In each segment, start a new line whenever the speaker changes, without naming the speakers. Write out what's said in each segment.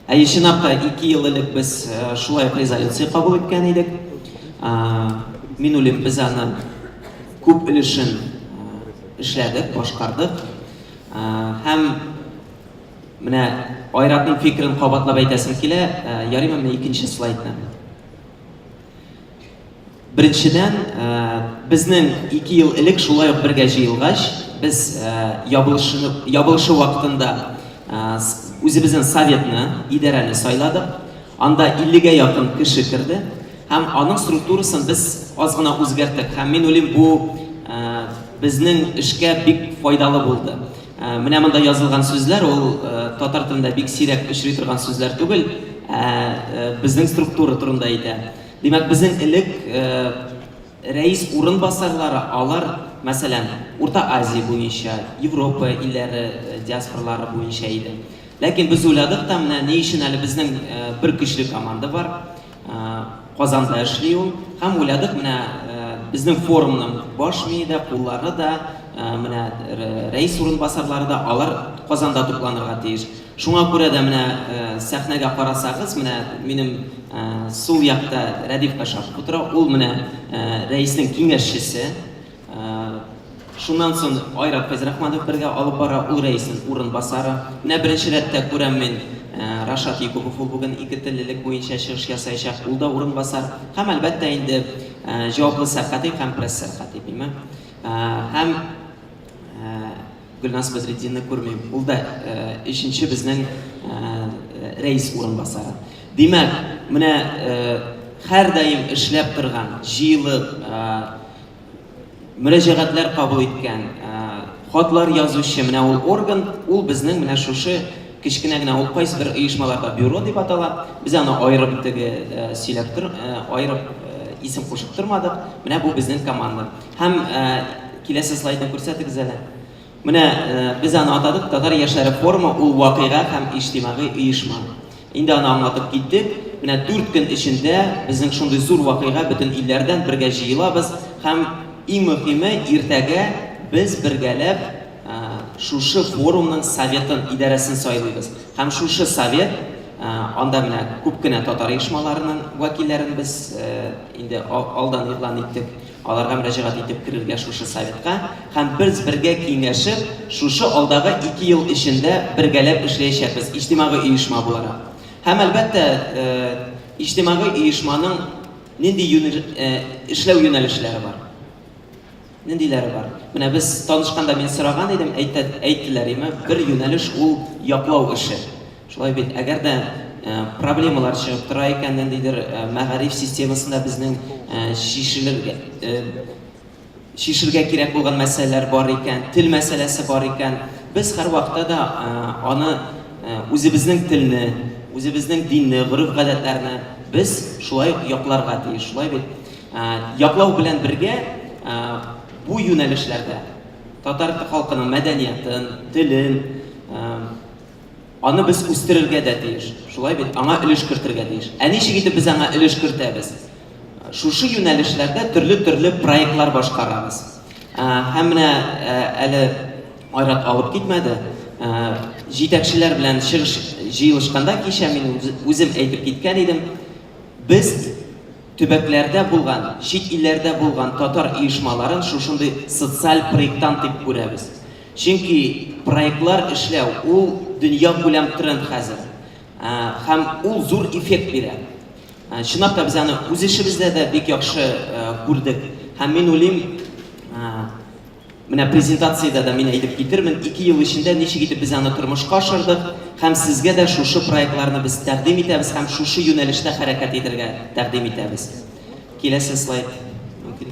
Әй чынлапта ике ел элек без э, шулай резолюция кабул иткән идек. Мин үлем без аны күп өлешен э, эшләдек, башкардык. Һәм Менә Айратның фикерен кабатлап әйтәсем килә. Ярыймы менә икенче слайдны? Беренчедән, безнең ике ел элек шулай ук бергә җыелгач, без ябылышыны, ябылышу вакытында үзебезнең советны, идарәне сайладык. Анда 50-гә якын кеше керде һәм аның структурасын без аз гына үзгәрттек. Һәм мин уйлыйм, бу безнең эшкә бик файдалы булды. Менә монда язылган сүзләр ул татар телендә бик сирәк очрый торган сүзләр түгел, ә безнең структура турында әйтә. Димәк, безнең элек рәис урынбасарлары, алар, мәсәлән, Урта Азия буенча, Европа илләре диаспоралары буенча иде. Ләкин без уйладык та, менә ни өчен әле безнең бер көчле команда бар. Казанда эшли ул. Һәм уйладык, менә безнең форумның баш мие дә, куллары да, менә рәис урынбасарлары да, алар Казанда тупланырга тиеш. Шуңа күрә дә менә сәхнәгә карасагыз, менә минем сул якта Рәдиф Кашапов утыра, ул менә рәиснең киңәшчесе. Шуннан соң Айрат Фәйзрахманов бергә алып бара, ул рәиснең урынбасары. Менә беренче рәттә күрәм мин, Рашат Якупов ул бүген ике теллелек буенча чыгыш ясаячак, ул да урынбасар. Һәм, әлбәттә инде, җаваплы сәркатип һәм пресс-сәркатип, һәм Гөлназ Бәдретдинны күрмим. Ул да өченче безнең рәис урынбасары. Димәк, менә һәрдаим эшләп торган, җыелып, мөрәҗәгатьләр кабул иткән, хатлар язучы менә ул орган, ул безнең менә шушы кечкенә генә, ул кайсы бер оешмаларда бюро дип атала, без аны аерып теге сөйләп аерып исем кушып тормадык, менә бу безнең команда. Һәм Киләсе слайдны күрсәтегез әле. Менә без аны атадык Татар яшьләре форумы ул вакыйга һәм иҗтимагый оешма. Инде аны аңлатып киттек. Менә дүрт көн эчендә безнең шундый зур вакыйга бөтен илләрдән бергә җыелабыз һәм иң мөхиме иртәгә без бергәләп шушы форумның советын, идарәсен сайлыйбыз һәм шушы совет анда менә күп кенә татар оешмаларының вәкилләрен без инде алдан игълан иттек. Аларга мөрәҗәгать итеп керергә шушы советка һәм без бергә киңәшеп, шушы алдагы ике ел эчендә бергәләп эшләячәкбез, иҗтимагый оешма буларак. Һәм, әлбәттә, иҗтимагый оешманың нинди эшләү юнәлешләре бар? Ниндиләре бар? Менә без танышканда мин сораган идем, әйтте, әйттеләр, име, бер юнәлеш ул яклау эше. Шулай бит, әгәр дә проблемалар чыгып тора икән, ниндидер мәгариф системасында безнең чишелергә, чишергә кирәк булган мәсьәләләр бар икән, тел мәсьәләсе бар икән, без һәрвакытта да аны үзебезнең телне, үзебезнең динне, гореф-гадәтләрне без шулай ук якларга тиеш, шулай бит? Яклау белән бергә бу юнәлешләрдә татар халкының мәдәниятын, телен, Аны без үстерергә дә тиеш. Шулай бит? Аңа өлеш кертергә тиеш. Ә ничек итеп без аңа өлеш кертәбез? Шушы юнәлешләрдә төрле-төрле проектлар башкарабыз. Һәм менә әле Айрат алып китмәде. Җитәкчеләр белән чыгыш җыелышканда кичә мин үзем әйтеп киткән идем, без төбәкләрдә булган, чит илләрдә булган татар оешмаларын шушындый социаль проекттан дип күрәбез. Чөнки проектлар эшләү, ул дөньякүләм тренд хәзер. Һәм ул зур эффект бирә. Чынлап та без аны үз эшебездә дә бик яхшы күрдек. Һәм мин уйлыйм, менә презентациядә дә мин әйтеп китермен, ике ел эчендә ничек итеп без аны тормышка ашырдык һәм сезгә дә шушы проектларны без тәкъдим итәбез һәм шушы юнәлештә хәрәкәт итәргә тәкъдим итәбез. Киләсе слайд, мөмкин.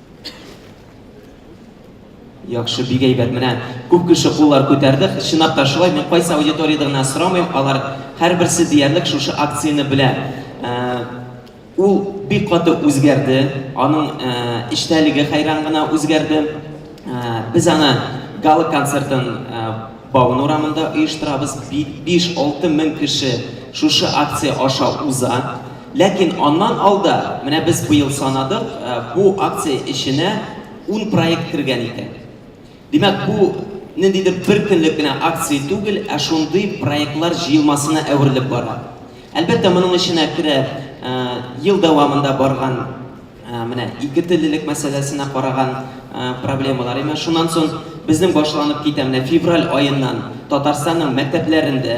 Яхшы, бик әйбәт. Менә күп кеше куллар күтәрде. Чынлап та шулай, мин кайсы аудиториядә генә сорамыйм, алар һәрберсе диярлек шушы акцияне белә. Ул бик каты үзгәрде, аның эчтәлеге хәйран гына үзгәрде. Без аны гала концертын Баун урамында оештырабыз. Биш-алты мең кеше шушы акция аша уза. Ләкин аннан алда, менә без быел санадык, бу акция эченә ун проект кергән икән. Димәк, бу ниндидер бер көнлек кенә акция түгел, ә шундый проектлар җыелмасына әверелеп бара. Әлбәттә, моның эченә керә ел дәвамында барган менә икетеллелек мәсьәләсенә караган проблемалар. Имеш, шуннан соң безнең башланып китә, менә февраль аеннан Татарстанның мәктәпләрендә,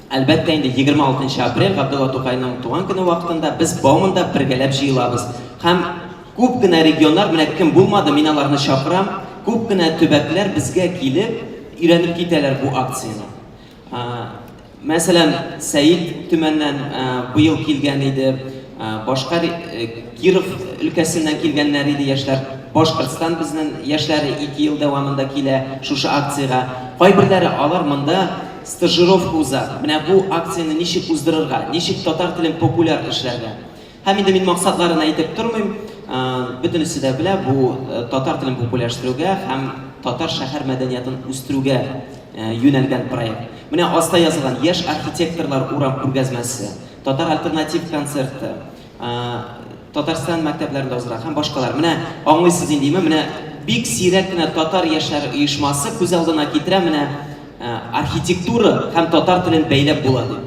Әлбәттә инде, 26 нчы апрель, Габдулла Тукайның туган көне вакытында без Бауманда бергәләп җыелабыз. Һәм күп кенә регионнар, менә кем булмады, мин аларны чакырам, күп кенә төбәкләр безгә килеп, өйрәнеп китәләр бу акцияне. Мәсәлән, Сәет Төмәннән быел килгән иде, башка Киров өлкәсеннән килгәннәр иде яшьләр. Башкортстан безнең яшьләре ике ел дәвамында килә шушы акциягә. Кайберләре алар монда Стажировка уза. Менә бу акцияне ничек уздырырга, ничек татар телен популяр эшләргә. Һәм инде мин максатларын әйтеп тормыйм, бөтенесе дә белә, бу татар телен популярстерүгә һәм татар шәһәр мәдәниятын үстерүгә юнәлгән проект. Менә аста язылган, яшь архитекторлар урам күргәзмәсе, татар альтернатив концерты, Татарстан мәктәпләрендә узарак һәм башкалар. Менә аңлыйсыз индиме, менә бик сирәк кенә татар яшьләре оешмасы күз алдына китерә, менә архитектура һәм татар телен бәйләп була дип.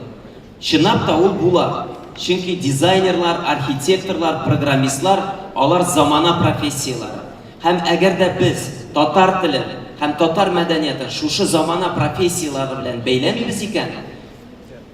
Чынлап та ул була, чөнки дизайнерлар, архитекторлар, программистлар, алар замана профессияләре. Һәм әгәр дә без татар телен һәм татар мәдәниятын шушы замана профессияләре белән бәйләмибез икән,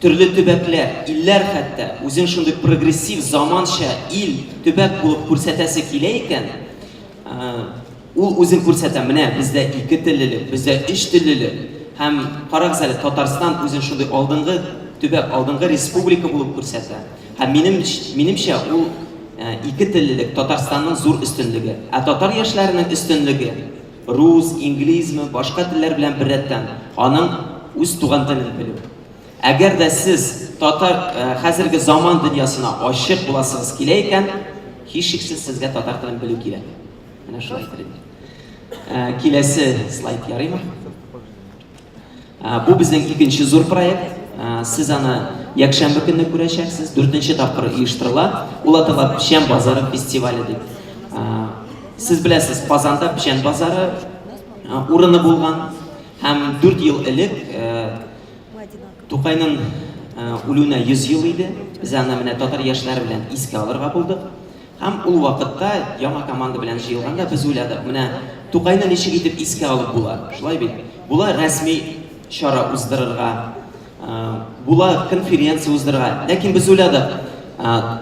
Төрле төбәкләр, илләр хәтта үзен шундый прогрессив, заманча ил, төбәк булып күрсәтәсе килә икән, ул үзен күрсәтә, менә бездә ике теллелек, бездә өч теллелек, һәм карагыз әле, Татарстан үзен шундый алдынгы төбәк, алдынгы республика булып күрсәтә. Һәм минем, минемчә, ул ике теллелек Татарстанның зур өстенлеге. Ә татар яшьләренең өстенлеге Рус, инглизме, башка телләр белән беррәттән, аның үз туган телен белү. Әгәр дә сез татар хәзерге заман дөньясына ачык буласыгыз килә икән, һичшиксез сезгә татар телен белү кирәк. Менә шулай әйтер идем. Киләсе слайд ярыймы? Бу безнең икенче зур проект. Сез аны якшәмбе көнне күрәчәксез, дүртенче тапкыр оештырыла. Ул атала Печән базары фестивале дип. Сез беләсез, Казанда Печән базары урыны булган һәм дүрт ел элек Тукайның үлүенә 100 ел иде. Без аны менә татар яшьләре белән искә алырга булдык. Һәм ул вакытта, яңа команда белән җыелганда, без уйладык, менә Тукайны ничек итеп искә алып була, шулай бит? Була рәсми чара уздырырга, була конференция уздырырга. Ләкин без уйладык,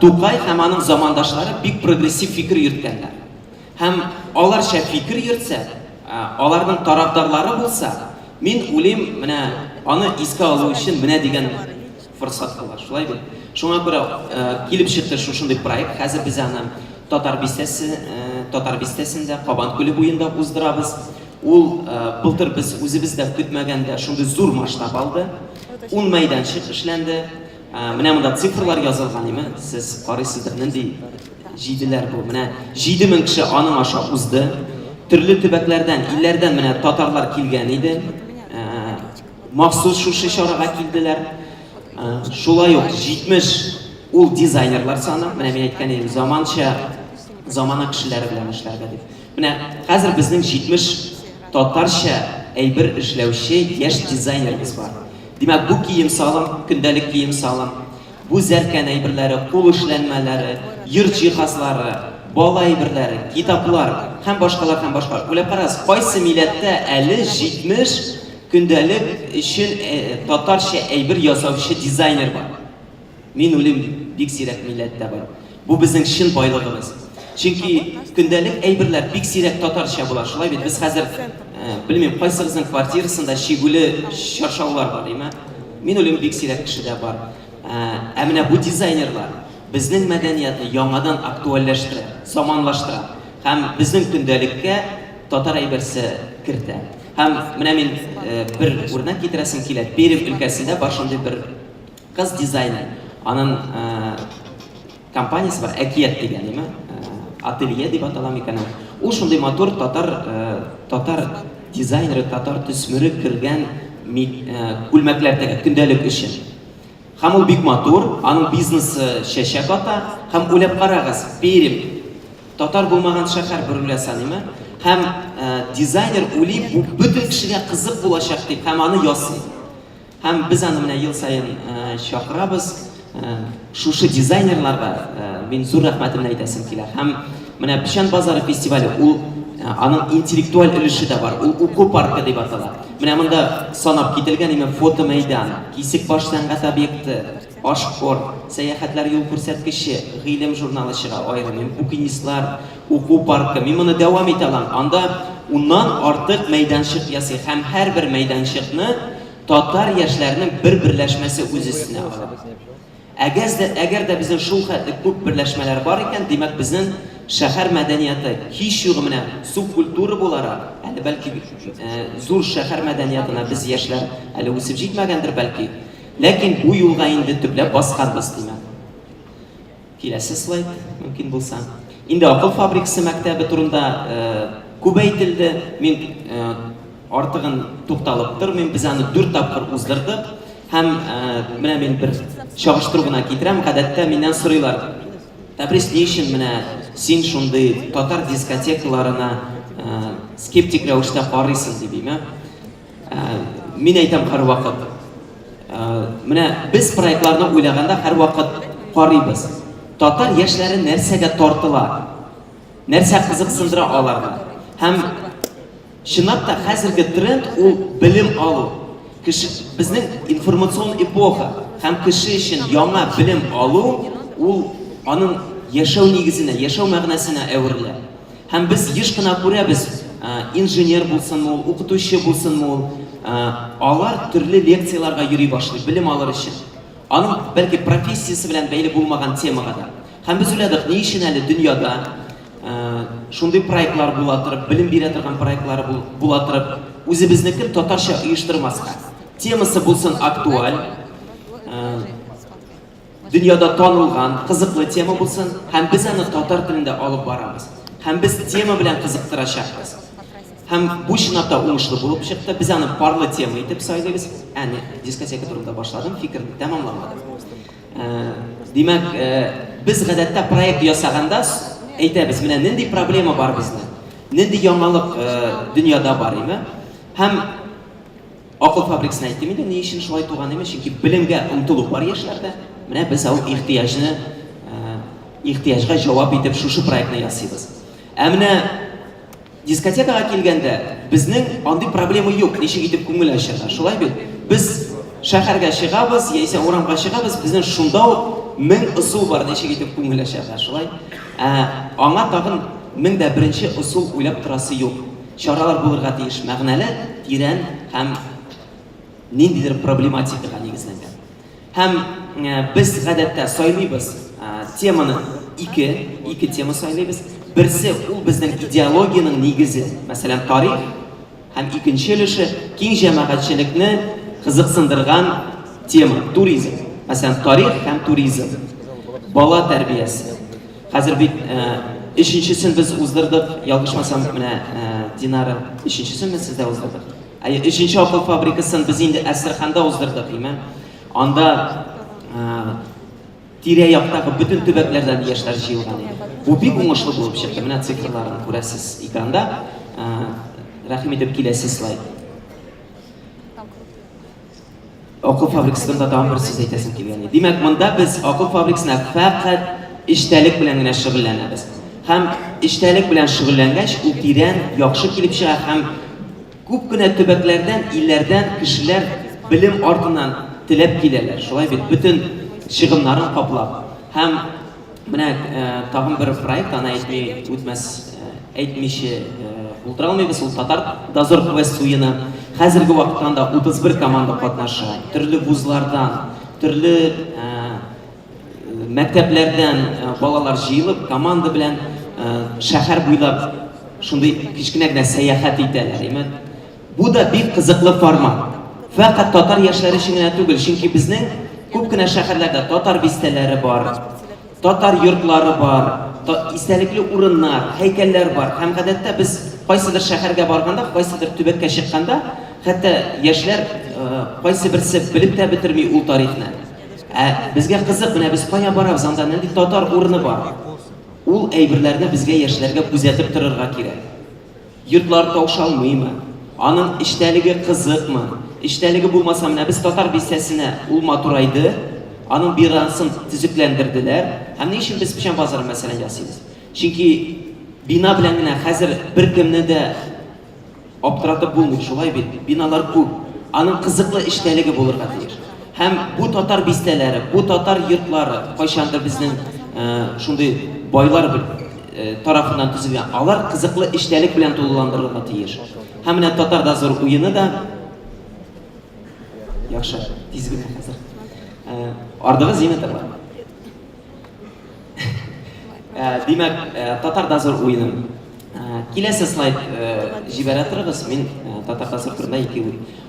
Тукай һәм аның замандашлары бик прогрессив фикер йөрткәннәр. Һәм аларча фикер йөртсә, аларның тарафдарлары булса, мин уйлыйм, менә аны искә алу өчен менә дигән Форсат кылар, шулай бит? Шуңа күрә килеп чыкты шушындый проект. Хәзер без аны Татар бистәсе, Татар бистәсендә, Кабан күле буенда уздырабыз. Ул былтыр без үзебез дә көтмәгәндә шундый зур масштаб алды. Ун мәйданчык эшләнде. Менә монда цифрлар язылган, име, сез карыйсыздыр, нинди җиделәр бу. Менә 7000 кеше аның аша узды. Төрле төбәкләрдән, илләрдән менә татарлар килгән иде. Махсус шушы чарага килделәр. Шулай ук 70 ул дизайнерлар саны, менә мин әйткән идем, заманча замана кешеләре белән эшләргә дип. Менә хәзер безнең 70 татарча әйбер эшләүче яшь дизайнерыбыз бар. Димәк, бу кием салым, көндәлек кием салым, бу зәркән әйберләре, кул эшләнмәләре, йорт җиһазлары, бала әйберләре, китаплар һәм башкалар һәм башкалар. Уйлап карагыз, кайсы милләттә әле 70 Көндәлек өчен татарча әйбер ясаучы дизайнер бар. Мин үлим дип, бик сирәк милләттә бар. Бу безнең чын байлыгыбыз. Чөнки көндәлек әйберләр бик сирәк татарча була, шулай бит? Без хәзер, белмим, кайсыгызның квартирасында чигүле чаршаулар бар, димә? Мин үлим бик сирәк кешедә бар. Ә менә бу дизайнерлар безнең мәдәниятны яңадан актуальләштерә, заманлаштыра һәм безнең көндәлеккә татар әйберсе кертә. Һәм менә мин бер үрнәк китерәсем килә. Пермь өлкәсендә бар шундый бер кыз дизайнер. Анын компаниясе бар, Әкият дигән, яме ателье дип атала микән ул. Ул шундый матур татар татар дизайнеры, татар төсмере кергән күлмәкләр тегә, көндәлек өчен. Һәм ул бик матур, аның бизнесы чәчәк ата, һәм уйлап карагыз, Пермь, татар булмаган шәһәр бер үлә саныймы? Һәм дизайнер уйлый, бу бөтен кешегә кызык булачак дип, һәм аны ясый. Һәм без аны менә ел саен чакырабыз, шушы дизайнерларга мин зур рәхмәтемне әйтәсем килә. Һәм менә Печән базары фестивале, ул аның интеллектуаль өлеше дә бар, ул уку паркы дип атала. Менә монда санап кителгән имем фотомәйдан, Кисекбаш сәнгать объекты, Ашкорт, Сәяхәтләр юл күрсәткече, Гыйлем журналы чыга, аерым имем, Букинистлар, Уку паркы. Мин моны дәвам итә алам. Анда уннан артык мәйданчык ясый һәм һәрбер мәйданчыкны татар яшьләренең бер берләшмәсе үз өстенә ала. Әгәз дә, әгәр дә безнең шул хәтле күп берләшмәләр бар икән, димәк, безнең шәһәр мәдәнияты һичьюгы менә субкультура буларак, әле бәлки зур шәһәр мәдәниятына без яшьләр әле үсеп җитмәгәндер бәлки, ләкин бу юлга инде төпләп басканбыз, димәк. Киләсе слайд, мөмкин булса. Инде акыл фабрикасы мәктәбе турында күп әйтелде. Мин Артыгын тукталып тормыйм, без аны дүрт тапкыр уздырдык. Һәм менә мин бер чагыштыру гына китерәм, гадәттә миннән сорыйлар, Тәбрис, ни өчен менә син шундый татар дискотекаларына скептик рәвештә карыйсың, дип име. Мин әйтәм һәрвакыт, менә без проектларны уйлаганда һәрвакыт карыйбыз, татар яшьләре нәрсәгә тартыла, нәрсә кызыксындыра аларны. Һәм Чынлап та, хәзерге тренд ул белем алу. Кеше, безнең информацион эпоха һәм кеше өчен яңа белем алу ул аның яшәү нигезенә, яшәү мәгънәсенә әверелә. Һәм без еш кына күрәбез, инженер булсынмы ул, укытучы булсынмы ул, алар төрле лекцияләргә йөри башлый, белем алыр өчен. Аның бәлки профессиясе белән бәйле булмаган темага да. Һәм без уйладык, ни өчен әле дөньяда Шундый проектлар була торып, белем бирә торган проектлар була торып, үзебезнекен татарча оештырмаска. Темасы булсын актуаль, дөньяда танылган, кызыклы тема булсын, һәм без аны татар телендә алып барабыз. Һәм без тема белән кызыктырачакбыз. Һәм бу чынлап та уңышлы булып чыкты. Без аны парлы тема итеп сайлыйбыз. Әни, дискотека турында башладым, фикерне тәмамламадым. Димәк, без гадәттә проект ясаганда әйтәбез, менә нинди проблема бар безнең, нинди яңалык дөньяда бар име, һәм акыл фабрикасына әйтте инде, ни өчен шулай туган име, чөнки белемгә омтылу бар яшьләрдә, менә без ау ихтыяҗны, ихтыяҗга җавап итеп шушы проектны ясыйбыз. Ә менә Дискотекага килгәндә, безнең андый проблема юк, ничек итеп күңел ачырга, шулай бит? Без шәһәргә чыгабыз, яисә урамга чыгабыз, безнең шунда ук мең ысул бар, ничек итеп күңел ачарга, шулай? Ә аңа тагын мең дә беренче ысул уйлап торасы юк. Чаралар булырга тиеш мәгънәле, тирән һәм ниндидер проблематикага нигезләнгән. Һәм без гадәттә сайлыйбыз теманы ике, ике тема сайлыйбыз. Берсе ул безнең идеологиянең нигезе, мәсәлән, тарих, һәм икенче өлеше киң җәмәгатьчелекне кызыксындырган тема, туризм. Мәсәлән, тарих һәм туризм. Бала тәрбиясе. Хәзер бит өченчесен без уздырдык, ялгышмасам, менә Динара өченчесен без сездә уздырдык. Ә өченче акыл фабрикасын без инде Әстерханда уздырдык, димә. Анда тирә яктагы бөтен төбәкләрдән яшьләр җыелган иде. Бу бик уңышлы булып чыкты. Менә цифрларын күрәсез экранда. Рәхим итеп киләсе слайд. Акыл фабрикасында тагын бер сүз әйтәсем килгән. Димәк, монда без акыл фабрикасына фәкать эчтәлек белән генә шөгыльләнәбез. Һәм эчтәлек белән шөгыльләнгәч, ул тирән, яхшы килеп чыга һәм күп кенә төбәкләрдән, илләрдән кешеләр белем артыннан теләп киләләр. Шулай бит, бөтен чыгымнарын каплап һәм Менә тагын бер проект, аны әйтми үтмәс, әйтмичә булдыра алмыйбыз, ул Татар дозор квест уены. Хәзерге вакытта анда 31 команда катнаша. Төрле вузлардан, төрле мәктәпләрдән балалар җыелып, команда белән шәһәр буйлап шундый кечкенә генә сәяхәт итәләр. Бу да бик кызыклы формат. Фәкать татар яшьләре өчен генә түгел, чөнки безнең күп кенә шәһәрләрдә татар бистәләре бар, татар йортлары бар, истәлекле урыннар, һәйкәлләр бар. Һәм гадәттә без кайсыдыр шәһәргә барганда, кайсыдыр төбәккә чыкканда, хәтта яшьләр кайсы берсе белеп тә бетерми ул тарихны. Ә безгә кызык, менә без кая барабыз, анда нинди татар урыны бар? Ул әйберләрне безгә яшьләргә күзәтеп торырга кирәк. Йотлар таушалмыймы, аның эчтәлеге кызыкмы, эчтәлеге булмаса, менә без Татар бистәсенә ул матурайды, аның бинасын төзекләндерделәр. Һәм ни өчен без печән базары мәсәлән ясыйбыз? Чөнки бина белән генә хәзер беркемне дә аптыратып булмый, шулай бит, биналар күп. Аның кызыклы эчтәлеге булырга тиеш. Һәм бу татар бистәләре, бу татар йортлары кайчандыр безнең шундый байлар тарафыннан төзелгән. Алар кызыклы эчтәлек белән тулыландырылырга тиеш. Һәм менә татар да зур уены да Яхшы, тиз генә хәзер. Ардыгы зинатарлар. Э, димәк э, татар дозор уены э, киләсе слайд җибәрә торыгыз мин татар дозор турында ике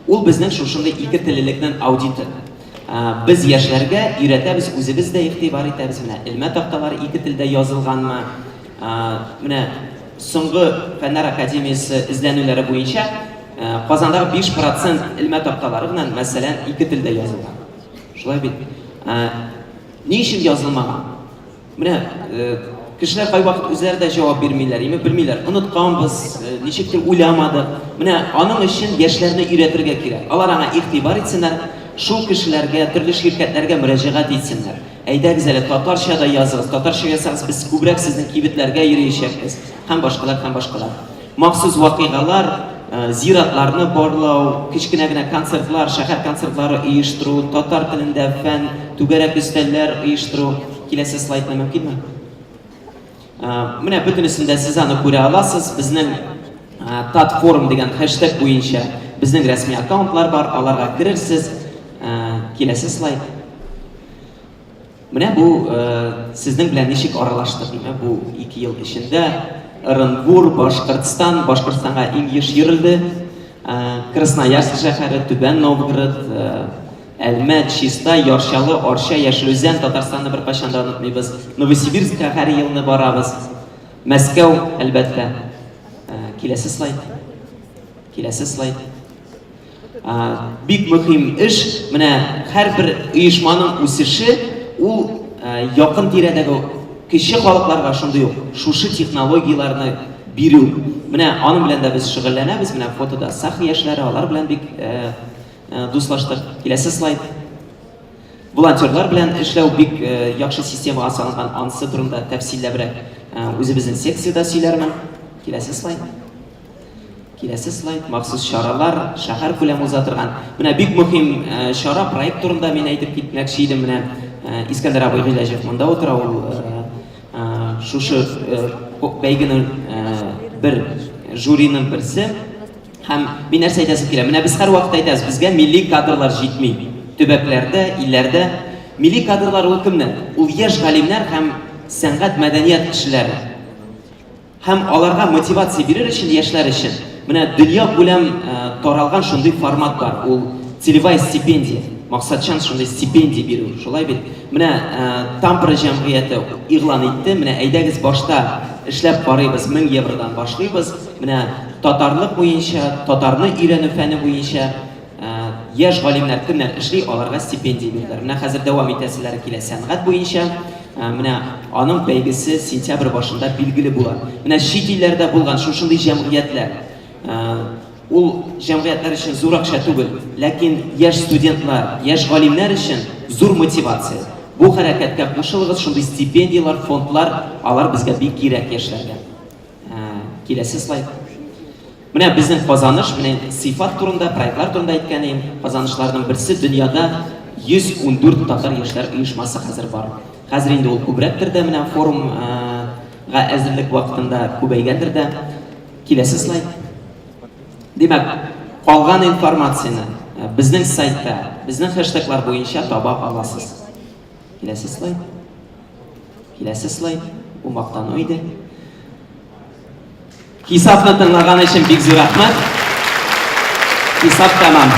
ул безнең шушындый ике теллелекнең аудиты без яшьләргә өйрәтәбез үзебез дә игътибар итәбез менә элмә такталар ике телдә язылганмы менә соңгы фәннәр академиясе эзләнүләре буенча казанда биш процент элмә такталары белән мәсәлән ике телдә язылган шулай бит Ни өчен язылмаган? Менә э, кешеләр кайвакыт үзләре дә җавап бирмиләр, яме белмиләр. Онытканбыз, э, ничектер уйламадык. Менә аның өчен яшьләрне өйрәтергә кирәк. Алар аңа игътибар итсеннәр, шул кешеләргә, төрле ширкәтләргә мөрәҗәгать итсеннәр. Әйдәгез әле татарча да языгыз, татарча язсагыз без күбрәк сезнең кибетләргә йөриячәкбез һәм башкалар һәм башкалар. Махсус вакыйгалар, зиратларны барлау, кечкенә генә концертлар, шәһәр концертлары оештыру, татар телендә фән, түгәрәк өстәлләр оештыру. Киләсе слайдны мөмкинме? Менә бөтенесен дә сез аны күрә аласыз. Безнең Татфорум дигән хэштег буенча безнең рәсми аккаунтлар бар, аларга керерсез. Киләсе слайд. Менә бу сезнең белән ничек аралашты, димә, бу ике ел эчендә Ырынбур, Башкортстан, Башкортстанга иң еш йөрелде, Красноярск шәһәре, Түбән Новгород, Әлмәт, Чиста, Ярчалы, Арча, Яшел Үзән, Татарстанны бер кайчан да онытмыйбыз. Новосибирскка һәр елны барабыз. Мәскәү, әлбәттә. Киләсе слайд. Киләсе слайд. Бик мөһим эш, менә һәрбер оешманың үсеше ул якын тирәдәге кече халыкларга шундый ук шушы технологияләрне бирү. Менә аның белән дә без шөгыльләнәбез. Менә фотода Сахи яшьләре, алар белән бик дуслаштык. Киләсе слайд. Волонтерлар белән эшләү бик яхшы системага салынган. Ансы турында тәфсилләбрәк үзебезнең секциядә сөйләрмен. Киләсе слайд. Киләсе слайд, махсус чаралар, шәһәркүләм уза торган. Менә бик мөһим э, чара, проект турында мин әйтеп китмәкче идем. Менә э, Искәндәр абый Гыйләҗев монда утыра, ул э, шушы бәйгене бер жюриның берсе. Һәм мин нәрсә әйтәсем килә? Менә без һәрвакыт әйтәбез, безгә милли кадрлар җитми. Төбәкләрдә, илләрдә милли кадрлар ул кемнәр? Ул яшь галимнәр һәм сәнгать мәдәният кешеләре. Һәм аларга мотивация бирер өчен, яшьләр өчен, менә дөнья күләм э, таралган шундый формат бар. Ул целевая стипендия. Максатчан шундый стипендия бирү. Шулай бит. Менә э, Тампра җәмгыяте игълан итте. Менә әйдәгез башта эшләп карыйбыз, 1000 евродан башлыйбыз. Менә татарлык буенча, татарны өйрәнү фәне буенча Яшь галимнәр кемнәр эшли, аларга стипендия бирделәр. Менә хәзер дәвам итәселәре килә сәнгать буенча. Менә аның бәйгесе сентябрь башында билгеле була. Менә чит илләрдә булган шушындый җәмгыятьләр. Ул җәмгыятьләр өчен зур акча түгел, ләкин яшь студентлар, яшь галимнәр өчен зур мотивация. Бу хәрәкәткә кушылыгыз, шундый стипендияләр, фондлар, алар безгә бик кирәк яшьләргә. Киләсе слайд. Менә безнең казаныш, менә сыйфат турында, проектлар турында әйткән идем. Казанышларның берсе дөньяда 114 татар яшьләр оешмасы хәзер бар. Хәзер инде ул күбрәктер дә менә форумга әзерлек вакытында күбәйгәндер дә. Киләсе слайд. Димәк, калган информацияне безнең сайтта, безнең хэштеглар буенча таба аласыз. Киләсе слайд. Киләсе слайд. Бу мактану иде. Хисапны тыңлаган өчен бик зур рәхмәт. Хисап тәмам.